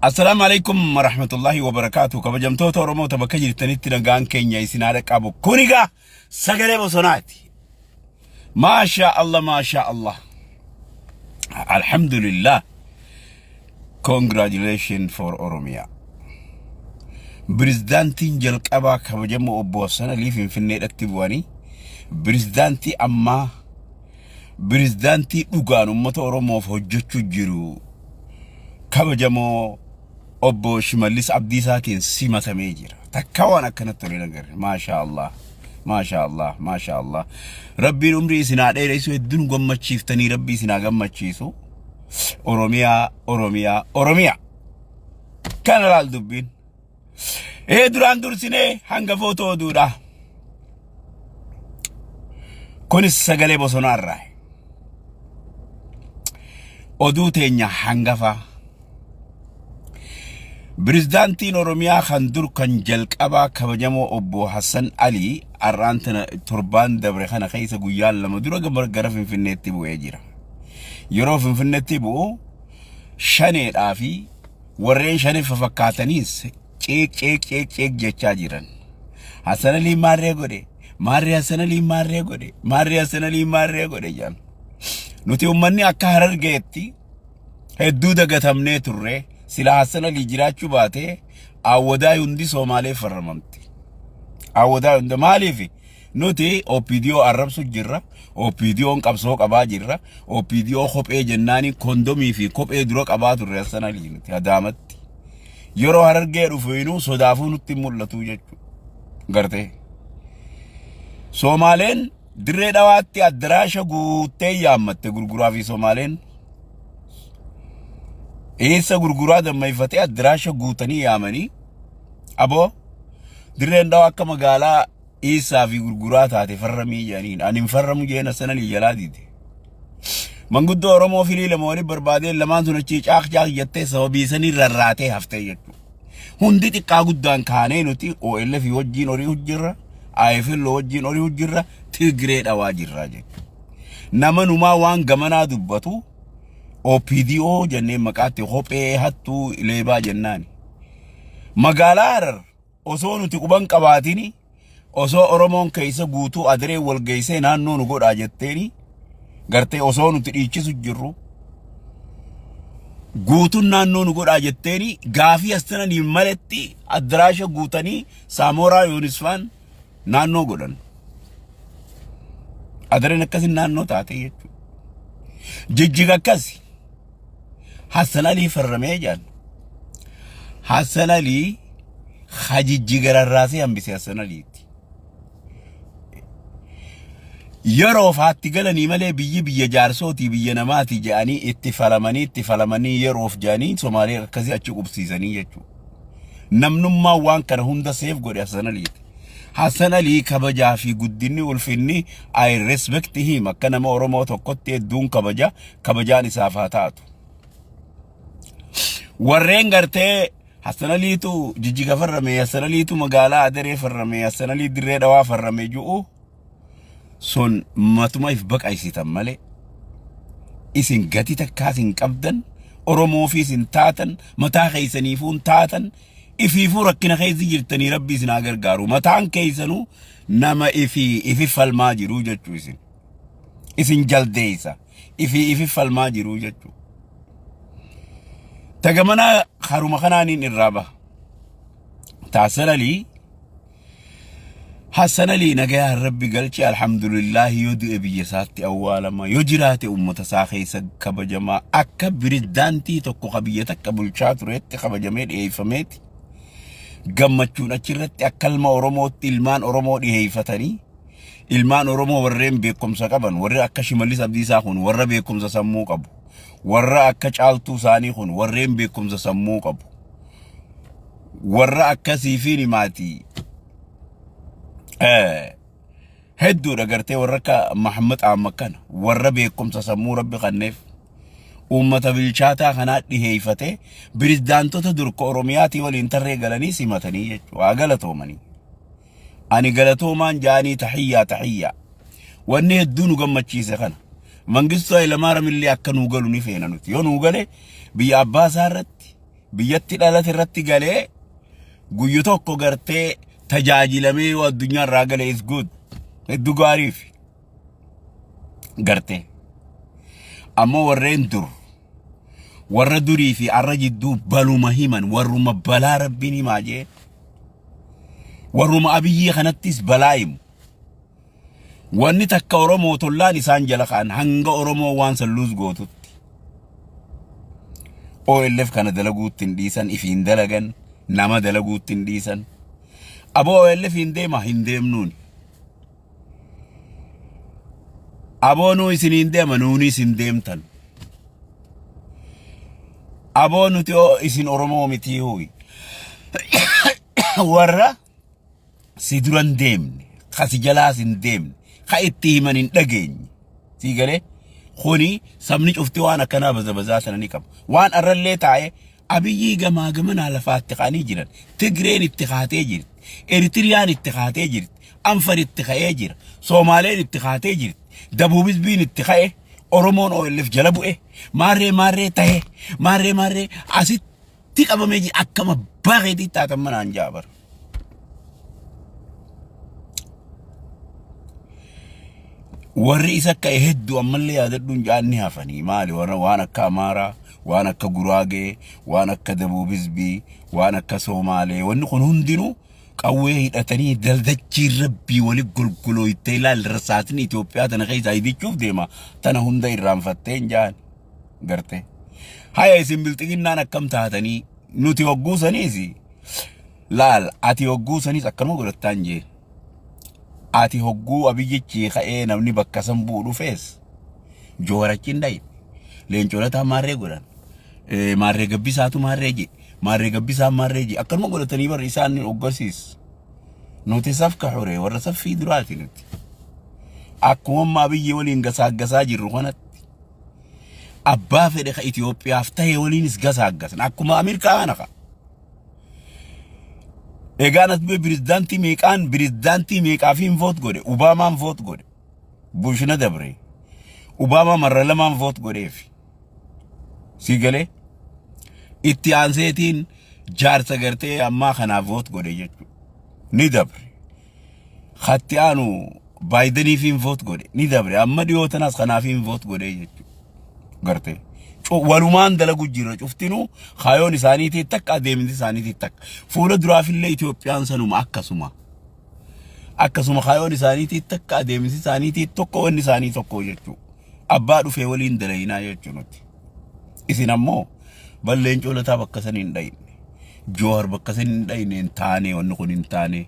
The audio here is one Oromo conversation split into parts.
Assalaamu alaikum warahmatullahi wabarakaatu kabajamtoota Oromoota bakka jirtanitti nagaan keenya isin haa dhaqqabu kun egaa sagalee bosonaati maashaa Allah maashaa Allah alhamdulillah congratulations for Oromia Pirezidaantiin jalqabaa kabajamoo obbo Hassan Alii Finfinneedhatti bu'anii pirezidaantii ammaa Pirezidaantii dhugaan uummata Oromoof hojjechuu jiru kabajamoo obbo Shimallis Abdiisaatiin simatamee jira. Takka waan akkanatti tolee nagarre. Maashaa Allah. Maashaa Allah. Maashaa Allah. Rabbiin umrii isin haa dheeressu hedduun gammachiiftanii rabbi isin haa gammachiisu. Oromiyaa, Oromiyaa, Oromiyaa. Kana laal dubbiin. Ee duraan dursinee hangafoota oduudha. Kunis sagalee bosonaarraa. Oduu teenya hangafaa. Pirezidaantiin Oromiyaa kan dur kan jalqabaa kabajamoo obbo Hassan Ali har'aan tana torbaan dabre kana keessa guyyaan lama dura gama- gara Finfinneetti bu'ee jira. Yeroo Finfinneetti bu'u shaneedhaa fi Warreen shanif fafakkaataniis ciiq ciiq ciiq ciiq jechaa jiran. Hassan Alii maarree godhe, maarree Hassan Alii maarree godhe, maarree Hassan Alii maarree godhe jedhan. Nuti uummanni akka harargeetti hedduu dagatamnee turre sila Hassan Alii jiraachuu baatee awwadaa hundi Soomaaleef farramamti. Awwadaa hunda maaliif? Nuti OPDO arrabsu jirra. OPDO'n qabsoo qabaa jirra. OPDO kophee jennaani kondomii fi kophee dura qabaa turre asana nuti hadaamatti. Yeroo harargee dhufu inuu sodaafuu nutti hin mul'atu jechuudha. Gartee. Soomaaleen dirree dhawaatti addaraasha guuttee yaammatte gurguraa fi Soomaaleen eessa gurguraa dammayfatee addaraasha guutanii yaamanii aboo dirreen dhawaa akka magaalaa dhiissaa fi gurguraa taate farramii jedhaniin. Ani hin farramu jeen assananii jalaa diide. Manguddoo Oromoo filii lama waliin barbaadeen lamaan sun achii caaq caaq jettee sababii sanii rarraatee haftee jettu. Hundi xiqqaa guddaan kaanee nuti OLF wajjin horii hojjirra, IFL wajjin horii hojjirra, Tigree dhawaa jirra jettu. Nama numaa waan gamanaa dubbatu OPDO jennee maqaatti kophee hattuu leebaa jennaani. Magaalaa Harar Osoo nuti quban qabaatini osoo Oromoon keessa guutuu adiree wal geessee naannoo nu godhaa jetteeni gartee osoo nuti dhiichisu jirru guutuun naannoo nu godhaa jetteeni gaafii as tananiif maletti addiraasha guutanii saamooraa yoonisfaan naannoo godhan. Adireen akkasi naannoo taate jechuudha. Jijjiga akkasi. Hassan Alii farramee jaan. Hassan Alii hajijji gararraasee hambise Hassan Aliitti. Yeroo faatti galanii malee biyyi biyya jaarsootii biyya namaati jedhanii itti falamanii itti falamanii yeroof jedhanii Somaalee akkasii achi qubsiisanii jechuudha. Namnummaan waan kana hunda seef godhe Hassan Aliiti. Hassan Alii kabajaa fi guddinni ulfinni I respect him akka nama Oromoo tokkotti hedduun kabaja kabajaan isaaf haa taatu. Warreen gartee Hassan Aliitu jijjiga farrame Hassan Aliitu magaalaa Adaree farrame Hassan Alii dirree dhawaa farrame ju'u Son matuma if baqaysitan malee isin gati takkaas hin qabdan oromoofiis hin taatan mataa keessaniifuu hin taatan ifiifuu rakkina keessa jirtanii rabbi isin haa gargaaru mataan keessanuu nama ifi ifi falmaa jiru jechuu isin isin jaldeessa ifi ifi falmaa jiru jechuu tagamanaa haruma kanaaniin irraa baha taasalalii Hassan Ali nagayaan rabbi galche alhamdulillahi yoo du'e biyya isaatti awwaalama yoo jiraate uummata isaa keessa kabajama akka pirezidaantii tokko ka biyya takka bulchaa tureetti kabajamee dhiyeeffameeti gammachuun achirratti akka ilma Oromootti ilmaan Oromoo dhiyeeffatanii ilmaan Oromoo warreen beekumsa qaban warri akka Shimallis Abdiisaa kun warra beekumsa sammuu qabu warra akka caaltuu isaanii kun warreen beekumsa sammuu qabu warra akkasii fi nimaatii hedduudha gartee warra akka Mahammad Amma kana warra beekumsa sammuu rabbi kanneef uummata bilchaataa kanaa dhiheeyfatee biridaantota durka Oromiyaatii waliin tarree galanii simatanii jechuudha waa galatoomanii. ani galatoomaan jaanii tahiyyaa tahiyyaa wanni hedduu nu gammachiise kana mangistuu Hayilamaariyaam illee akka nuu galu ni feena nuti yoo nuu gale biyya abbaa isaa irratti biyyatti dhalate irratti galee guyyu tokko gartee tajaajilamee yoo addunyaa irraa gale is good hedduu gaariifi. garte ammoo warreen dur warra durii fi arra jidduu baluma himan warruma balaa rabbiin himaa jee warruma abiyyii kanattis balaa himu wanni takka oromoo tollaan isaan jala ka'an hanga oromoo waan salluus gootutti OLF kana dalaguutti hin dhiisan ifiin dalagan nama dalaguutti hin dhiisan aboo OLF hin deema hin deemnuuni Aboonuu isiniin deema nuuni isin deemtan. Aboo nuti oo isin Oromoo mitii huyi. Warra si duran deemne, ka si jalaas hin deemne, ka itti himan hin dhageenye. Sii galee kuni sabni cufti waan akkanaa baza bazaa sana ni qaba. Waan arrallee taa'ee Abiyyii gamaa gamanaa lafaa itti ka'anii jiran. Tigreen itti kaatee jirti. Eritiriyaan itti kaatee jirti. Anfar itti ka'ee jira. Soomaaleen itti kaatee jirti. Dabuub Hizbiin itti ka'e. Oromoon OLF jala bu'e. Maarree maarree tahe. Maarree maarree asitti qabamee jira. Akkama bareedii taatan manaan jaabar. warri isa ka'e hedduu ammallee yaadadhuun jaanni hafanii maali warra waan akka amaaraa waan akka guraagee waan akka dabuub hizbii waan akka soomaalee wanni kun hundinuu qawwee hidhatanii daldachii rabbii wali golgolooytee ilaal rasaasni Itoophiyaa tana keessaa ibichuuf deema tana hunda irraanfatteen jaan gartee haya isin bilxiginnaan akkam taatanii Nuti hogguu saniis laal ati hogguu saniis akkanuma godhattaan jee. Ati hogguu abiyyichi ka'ee namni bakka san bu'u dhufees joorachi hin dhayin. Leencoonataan maarree godhan. Eh, Maarree gabbisaatu maarree jee. Maarree gabbisaan maarree jee. Akkanuma godhatanii barri isaan hoggasiis. Nuti safka xure warra saffii duraati nuti. Akkuma amma abiyyi waliin gasaaggasaa jirru kanatti. Abbaa fedhe ka Itoophiyaaf ta'e waliinis gasaaggasna. Akkuma Amiir Kahaana ka. Egaan as bee pirezidaantii meeqaan pirezidaantii meeqaafiin voot godhe Obaamaan voot godhe Bushna dabre Obaamaa marra lamaan voot godheef si galee itti aanseetiin jaarsa gartee ammaa kanaaf voot godhe jechuudha ni dabre Katti aanu Baayidaniif hin voot godhe ni dabre amma dhiyoo tanas kanaaf hin voot godhe jechuudha. Gartee Cu- walumaan dalagu jira cuftinuu kaayoon isaaniitii takka adeemsi isaaniitii takka fuula duraafillee Itoophiyaan sanuma akkasuma akkasuma kaayoon isaaniitii takka adeemsi isaaniitii tokko wanni isaanii tokko jechuudha. Abbaa dhufee waliin dalaginaa jechuudha nuti. Isin ammoo Bal leencoo lataa bakka san hin dhayne. Joohar bakka san hin dhayne hin taane wanni kun hin taane.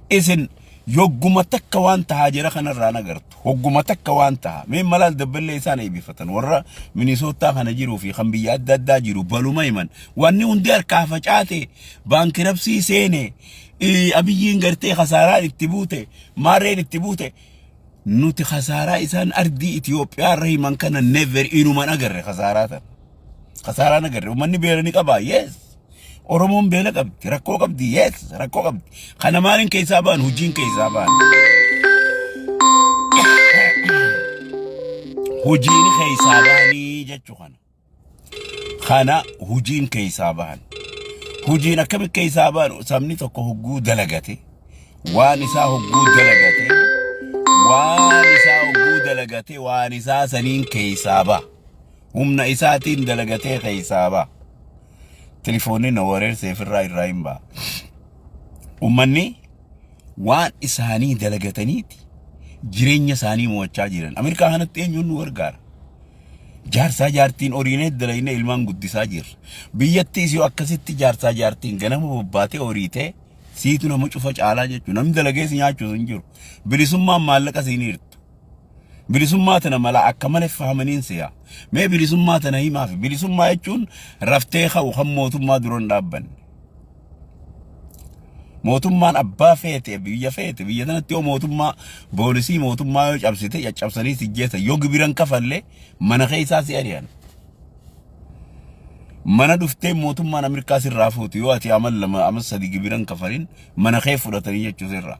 Isin yogguma takka waan tahaa jira kanarraa nagartu. Hogguma takka waan taha. Mee malaal dabballee isaan eebbifatan. Warra Minisootaa kana jiruu fi kan biyya adda addaa jiru baluma himan. Wanni hundi harkaa facaate baankirabsii seene. Abiyyiin gartee kasaaraan itti buute. Maarreen itti buute. Nuti kasaaraa isaan ardii Itoophiyaa irra himan kana never inuman agarre kasaaraa sana. Kasaaraan agarre uummanni beela ni qabaa yes. Oromoon beela qabdi rakkoo qabdi yes rakkoo qabdi. Kana maaliin keessaa ba'an hojiin keessaa ba'an. Hojiin keessaa ba'anii jechuu kana. kana hujiin keessaa bahan. Hujiin akkamitti keessaa bahan sabni tokko hogguu dalagate waan isaa hogguu dalagate waan isaa hogguu dalagate waan isaa saniin keessaa baha. Humna isaatiin dalagatee keessaa baha. Tilifoonni na wareersee firraa irraa hin baha. Uummanni waan isaanii dalagataniiti jireenya isaanii mo'achaa jiran. Ameerikaa kanatti eenyuun nu gargaara? Jaarsaa jaartiin horiinees dalaynee ilmaan guddisaa jirra. Biyyattiis yoo akkasitti jaarsaa jaartiin ganama bobbaatee horiitee siitu nama cufa caalaa jechuudha. Namni dalagees nyaachuus hin jiru. Bilisummaan maallaqa siin hirtu. Bilisummaa tana mala akka malee fahamaniin si'a. Mee bilisummaa tana himaaf. Bilisummaa jechuun raftee ka'u kan mootummaa duran dhaabbanne. Mootummaan abbaa feete biyya feete biyya sanatti yoo mootummaa boolisii mootummaa yoo cabsite caccabsanii si jeessa yoo gibiran kafalle mana keessaa si ari'an. Mana dhuftee mootummaan Ameerikaa sirraa fuutu yoo ati amal lama amal sadi gibiran kafalin mana kee fudhatanii jechuu sirraa.